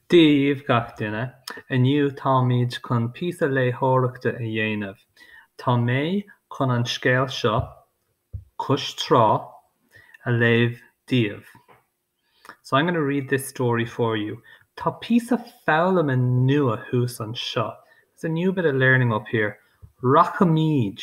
Dia dhíbh gach duine. Inniu táimid chun píosa léitheoireachta a dhéanamh. Tá mé chun an scéal seo, Cois Trá, a léamh daoibh. So I'm going to read this story for you. Tá píosa foghlama nua thuas anseo. There's a new bit of learning up here. Rachaimid.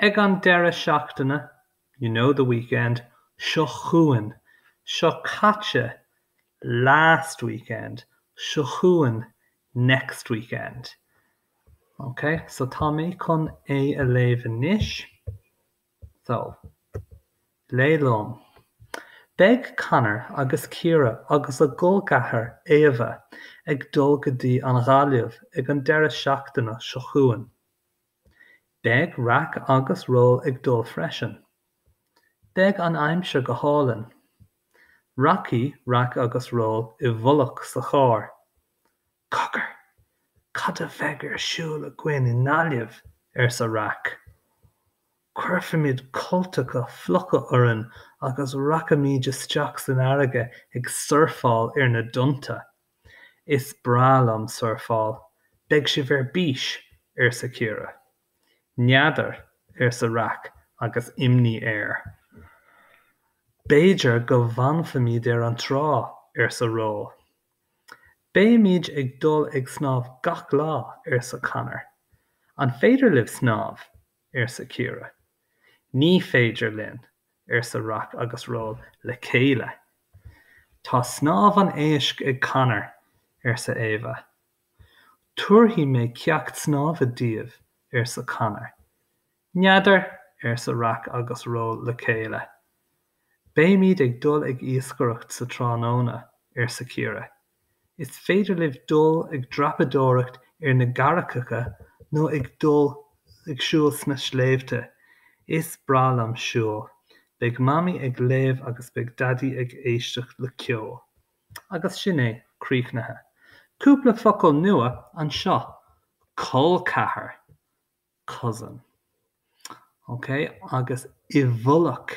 Ag an deireadh seachtaine, you know the weekend, seo chugainn, seo caite, last weekend, seo chugainn, next weekend. Ok, so tá mé chun é a léamh anois. So, léigh liom. Beidh Conor agus Ciara agus a gcol ceathar Éabha ag dul go dtí an Ghaillimh ag an deireadh seachtaine seo chugainn. Beidh Rac agus Ról ag dul freisin. Beidh an aimsir go hálainn. Rachaidh Rac agus Ról i bhfolach sa charr. Cogar! Cad a bheidh ar siúl againn i nGaillimh? arsa Rac. Cuirfimid cultacha fliucha orainn agus rachaimid isteach san fharraige ag surfáil ar na dtonnta. Is breá liom surfáil. Beidh sibh ar bís! arsa Ciara. N'fheadar, arsa Rac agus imní air. B'fhéidir go bhfanfaimid ar an trá, arsa Ról. Beimid ag dul ag snámh gach lá, arsa Conor. An féidir libh snámh? arsa Ciara. Ní féidir linn, arsa Rac agus Ról le chéile. Tá snámh an éisc ag Conor, arsa Éabha. Tabharfaidh mé ceacht snámha daoibh, arsa Conor. N'fheadar, arsa Rac agus Ról le chéile. Beimid ag dul ag iascaireacht sa tráthnóna, arsa Ciara. Is féidir libh dul ag dreapadóireacht ar na gcarraigeacha nó ag dul ag siúl sna sléibhte. Is breá liom siúl. Beidh Mamaí ag léamh agus beidh Daidí ag éisteacht le ceol. Agus sin é, críochnaithe. Cúpla focal nua anseo, col ceathar, cousin. Ócé? Agus i bhfolach.